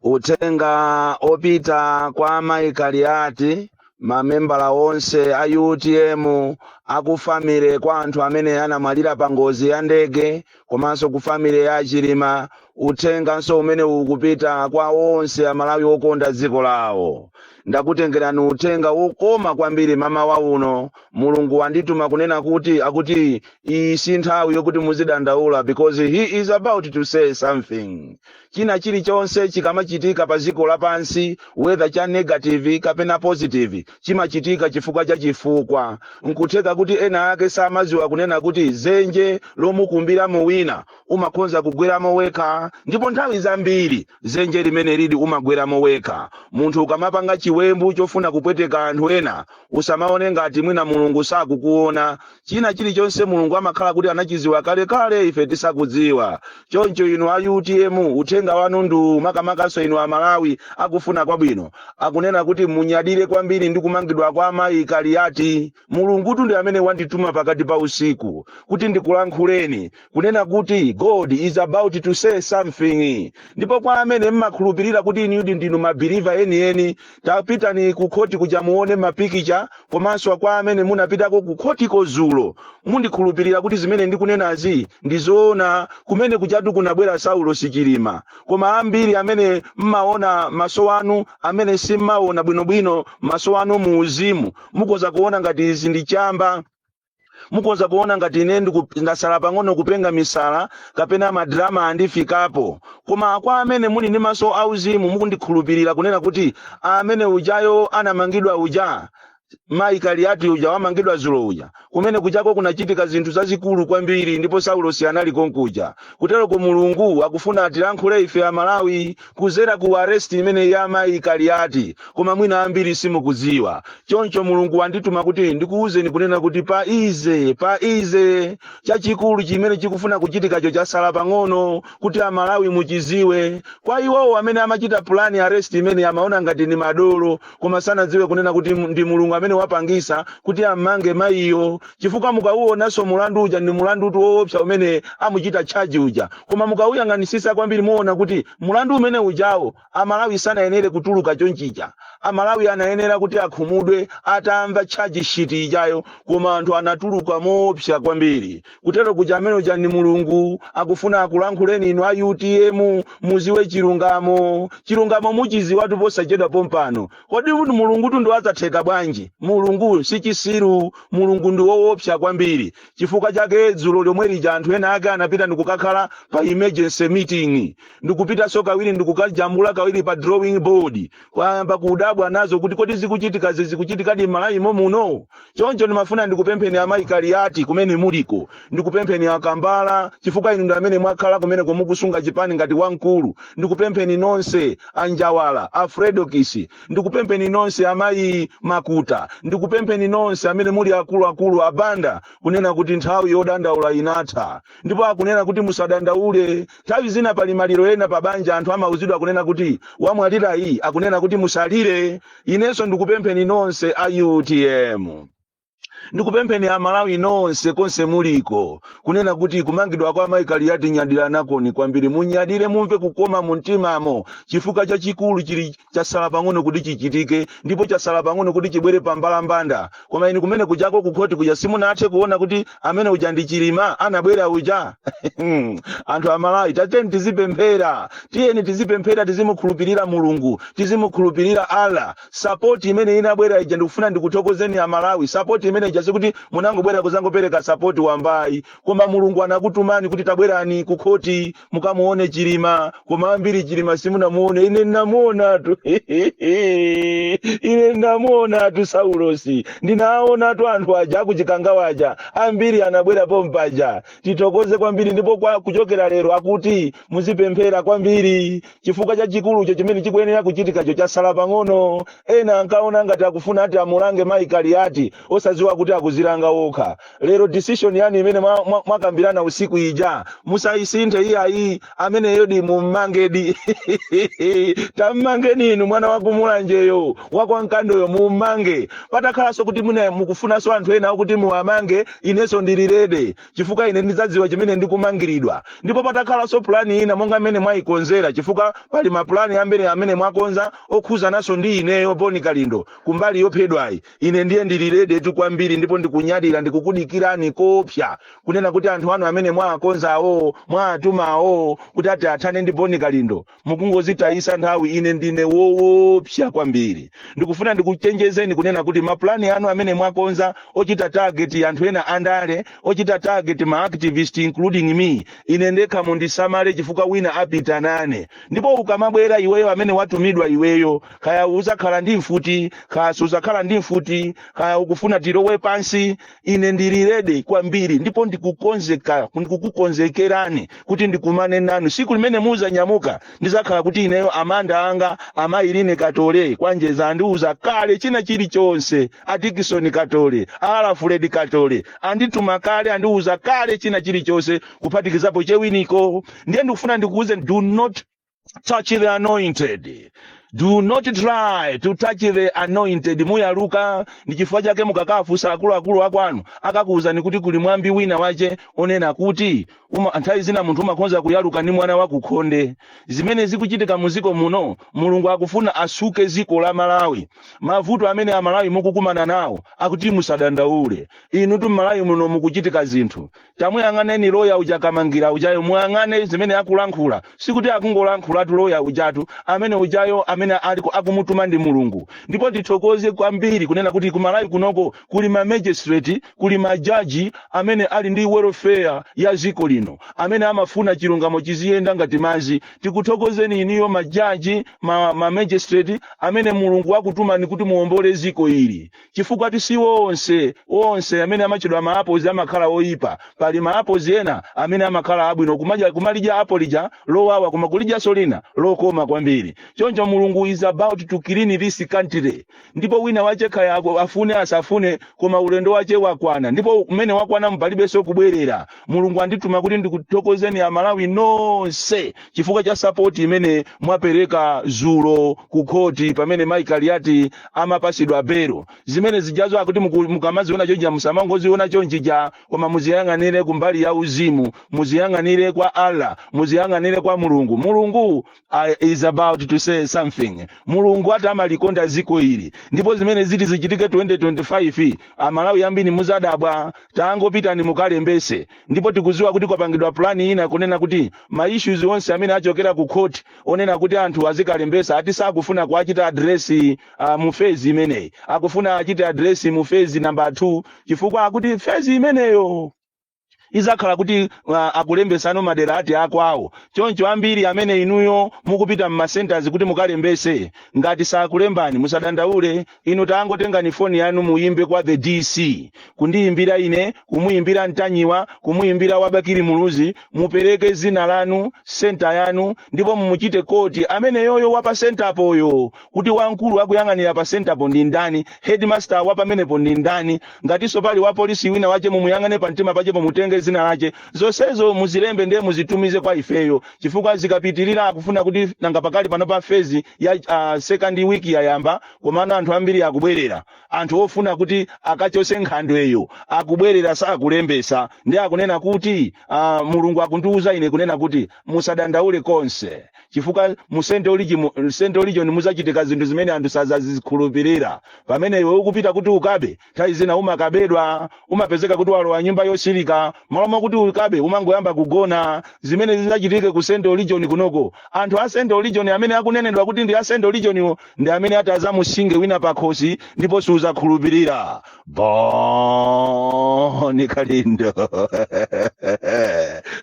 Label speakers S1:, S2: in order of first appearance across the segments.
S1: uthenga opita kwa amayi kaliati mamembala onse a utm aku family kwa anthu amene anamwalira pa ngozi ya ndege komanso ku family ya achilima uthenganso umene ukupita kwa onse amalawi okonda dziko lawo ndakutengerani uthenga wokoma kwambiri mamawa uno mulungu wandituma kunena kuti akuti iyi si nthawi yokuti muzidandaula because he is about to say something china chilichonse chikamachitika pa dziko lapansi whether cha negative kapena positive chimachitika chifukwa cha chifukwa nkutheka kuti ena ake samadziwa kunena kuti zenje lomukumbiramo wina umakhonza kugweramo wekha ndipo nthawi zambiri zenje limeneli umagweramo wekha munthu ukamapanga chiwembu chofuna kupweteka anthu ena Usamaone ngati mwina Mulungu sakukuona. China chilichonse Mulungu amakhala kuti anachiziwa kale kale ife tisakudziwa. Choncho inu a utm uthenga wanu ndi uwu makamakanso inu a Malawi akufuna kwabwino. Akunena kuti munyadire kwambiri ndi kumangidwa kwa amayi Kaliati. Mulungutu ndi amene wandituma pakati pa usiku kuti ndikulankhuleni kunena kuti god is about to say something ndipo kwa amene mmakhulupirira kuti inudi ndinu mabhiliva enieni tapitani ku khoti kuja muone mapikicha komanso kwa amene munapitako ku khoti kozulo mundikhulupirira kuti zimene ndikunenazi ndi zoona kumene kujatu kunabwera saulosi chilima koma ambiri amene mmaona mmaso mwanu amene simmaona bwinobwino mmaso mwanu mu uzimu mukoza kuona ngati izi ndi chamba mukoza kuona ngati ine ndiku- ndasala pang'ono kupenga misala kapena madrama andifikapo koma kwa amene muli ndi maso auzimu mukundikhulupirira kunena kuti amene ujayo anamangidwa uja mayi kaliyati uja wamangidwa zulo uja kumene kujako kunachitika zinthu zazikulu kwambiri ndipo saulosi anali konkuja kuteroko mulungu akufuna atilankhule ife amalawi kuzera ku arrest imeneyi ya amayi kaliati koma mwina ambiri simukuziwa choncho mulungu wandituma kuti ndikuwuzeni kunena kuti be easy be easy chachikulu chimene chikufuna kuchitikacho chasala pang'ono kuti amalawi muchiziwe kwa iwowo amene amachita pulani arrest imene amaona ngati ni madolo koma sanadziwe kunena kuti mu- ndi mulungu amene wapangisa kuti ammange mayiyo chifukwa mukauonanso mulandu uja ndi mulandutu woopsa umene amuchita tchaji uja koma mukauyang'anisisa kwambiri muona kuti mulandu umene ujawo amalawi sanayenere kutuluka chonchija amalawi anayenera kuti akhumudwe atamva tchaji shiti ijayo koma anthu anatuluka moopsa kwambiri kutero kuja amene uja ni mulungu akufuna akulankhuleni inu a utm muziwe chilungamo chilungamo muchiziwatu posachedwa pompano kodi kuti mulungutu ndi wazatheka bwanji mulungu si chisiru mulungu ndi woopsa kwambiri chifukwa chake dzulo lomwe lija anthu ena ake anapita ndikukakhala pa emergency meeting ndikupitanso kawiri ndikukajambula kawiri pa drawing board wayamba kudabwa nazo kuti kodi zikuchitikazi zikuchitikadi m'malawi mo muno choncho ndimafuna ndikupempheni amayi kaliyati kumene muliko ndikupempheni akambala chifukwa inu ndi amene mwakhala kumeneko mukusunga chipani ngati wamkulu ndikupempheni nonse anjawala a fredokiss ndikupempheni nonse amayi makuta ndikupempheni nonse amene muli akuluakulu abanda kunena kuti nthawi yodandaula inatha ndipo akunena kuti musadandaule Nthawi zina pali maliro ena pa banja anthu amauzidwa kunena kuti wamwalirayi akunena kuti musalire. Inenso ndikupempheni nonse a utm. Ndikupempheni a Malawi nonse konse muliko kunena kuti kumangidwa kwa Mai Kaliati nyadiranakoni kwambiri. Munyadire mumve kukoma mumtimamo chifukwa chachikulu chili chatsala pang'ono kuti chichitike ndipo chatsala pang'ono kuti chibwere pa mbalambanda koma inu kumene kujako kukhoti kuja simunathe kuona kuti amene uja ndi chilima anabwera uja anthu amalawi tiyeni tizipemphera tiyeni tizipemphera tizimukhulupirira mulungu tizimukhulupirira allah sapoti imene inabwera ija ndikufuna ndikuthokozeni amalawi sapoti imene ija sikuti munangobwera kuzangopereka sapoti wamba ayi koma mulungu anakutumani kuti tabwerani kukhoti mukamuone chilima koma ambiri chilima simunamuone ine ndinamuonatu ine ndinamuonatu saulosi ndinaonatu anthu aja akuchikangawa aja ambiri anabwera pompaja tithokoze kwambiri ndipo kwa kuchokera lero akuti muzipemphera kwambiri chifukwa chachikulucho chimene chikuyenera kuchitikacho chasala pang'ono ena ankaona ngati akufuna ati amulange mayi kaliyati osadziwa kuti akuzilanga okha lero decision yanu imene mwa- mwa- mwakambirana usiku ija musayisinthe iyayi ameneyodi mummangedi tammangeni inu mwana wakumulanjeyo wakwankandoyo mummange patakhalanso kuti mune mukufunanso anthu ena kuti muwamange inenso ndili ready chifukwa ine ndidzadziwa chimene ndikumangiridwa ndipo patakhalanso pulani ina monga mmene mwayikonzera chifukwa pali mapulani ambiri amene mwakonza okhuzananso ndi ineyo boni kalindo kumbali yophedwayi ine ndiye ndili ready tu kwambiri ndipo ndikunyadira ndikukudikirani koopsa kunena kuti anthu anu amene mwaakonza awowo mwaatuma awowo kuti ati athane ndi boni kalindo mukungozitayisa nthawi ine ndine woopsa kwambiri ndikufuna ndikuchenjezeni kunena kuti mapulani anu amene mwakonza ochita target anthu ena andale ochita target ma activist including me ine ndekha mundisamale chifukwa wina apita nane ndipo ukamabwera iweyo amene watumidwa iweyo kaya uzakhala ndi mfuti kaya suzakhala ndi mfuti kaya ukufuna tilowe pansi ine ndili rede kwambiri ndipo ndikukukonzekerani kuti ndikumane nanu siku limene muzanyamuka ndizakhala kuti ineyo amanda anga amayi anga katole kwanjeza andiuza kale china chilichonse atikisi katole alafuledi katole andituma kale andiuza kale china chilichonse kuphatikizapo chewiniko ndiye ndikufuna ndikuuze do not touch the anointed do not try to touch the anointed muyaluka ndi chifukwa chake mukakafunsa akuluakulu akwanu akakuwuzani kuti kuli mwambi wina wache onena kuti uma, nthawi zina munthu umakhonza kuyaluka ndi mwana wakukhonde zimene zikuchitika mu ziko muno mulungu akufuna asuke ziko la malawi mavuto amene amalawi mukukumana nawo akuti musadandaule inu tu mmalawi muno mukuchitika zinthu tamuyang'aneni loya uja kamangira ujayo muyang'ane zimene akulankhula sikuti akungolankhulatu loya ujatu amene ujayo amene akumutuma ndi mulungu ndipo tithokoze kwambiri kunena kuti kumalawi kunoko kuli ma magistrate kuli majaji amene ali ndi welfare ya ziko lino amene amafuna chilungamo chiziyenda ngati mazi tikuthokozeni inuyo majaji ma, ma magistrate amene mulungu wakutumani kuti muombole ziko ili chifukwatu si onse onse amene amachedwa ma apples amakhala oyipa pali ma apples ena amene amakhala abwino kumalidya apple lija lowawa koma kulidyanso lina lokoma kwambiri choncho mulungu is about to clean this country ndipo wina wache kaya afune asafune koma ulendo wache wakwana ndipo umene wakwana palibenso kubwerera mulungu andituma kuti ndikuthokozeni amalawi nonse chifukwa cha sapoti imene mwapereka zulo ku khoti pamene mai kaliati amapasidwa belo zimene zijazo akuti mukamaziona chonchija musamangoziona chonchija koma muziyang'anire kumbali ya uzimu muziyang'anire kwa allah muziyang'anire kwa mulungu mulungu is about to say something mulungu ati amalikonda ziko ili ndipo zimene ziti zichitike 2025 amalawi ambiri muzadabwa tangopitani mukalembese ndipo tikuziwa kuti kwapangidwa plani ina kunena kuti ma issues onse amene achokera ku court onena kuti anthu azikalembesa ati sakufuna kuachita adresi uh, mu phase imeneyi akufuna achite adresi mu phase number 2 chifukwa akuti phase imeneyo izakhala kuti uh, akulembesano madera ati akwawo choncho ambiri amene inuyo mukupita mmasentazi kuti mukalembese ngati sakulembani musadandaule inu tangotengani foni yanu muyimbe kwa the dc kundiyimbira ine kumuyimbira mtanyiwa kumuyimbira wa bakili muluzi mupereke zina lanu senta yanu ndipo mumuchite quote ameneyoyo wapa senta apoyo kuti wamkulu akuyang'anira pa centerpo ndi ndani headmaster wapamenepo ndi ndani ngatinso pali wapolisi wina wache mumuyang'ane pa mtima pachepo mutenge zina lache zonsezo muzilembe ndiye muzitumize kwa ifeyo chifukwa zikapitirira akufuna kuti nanga pakali pano pa phase ya uh, second week yayamba komano anthu ambiri akubwerera anthu ofuna kuti akachotse nkhandweyo akubwerera sakulembesa ndiye akunena kuti uh, mulungu akundiwuza ine kunena kuti musadandaule konse chifukwa mu Central Region Central Region muzachitika zinthu zimene anthu sazazikhulupirira pamene iwe ukupita kuti ukabe nthawi zina umakabedwa umapezeka kuti walowa nyumba yosilika malo moti ukabe umangoyamba kugona zimene zizachitike ku Central Region kunoko anthu a Central Region amene akunenedwa kuti ndi a Central Region-wo ndi amene ati azamusinge wina pakhosi ndipo siuzakhulupirira Boni Kalindo.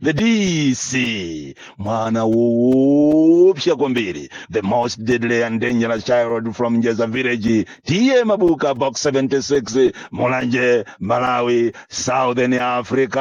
S1: the DC. Mwana woopsa kwambiri. The most deadly and dangerous child from Njeza village. Tiye Mabuka box 76 Mulanje Malawi Southern Africa.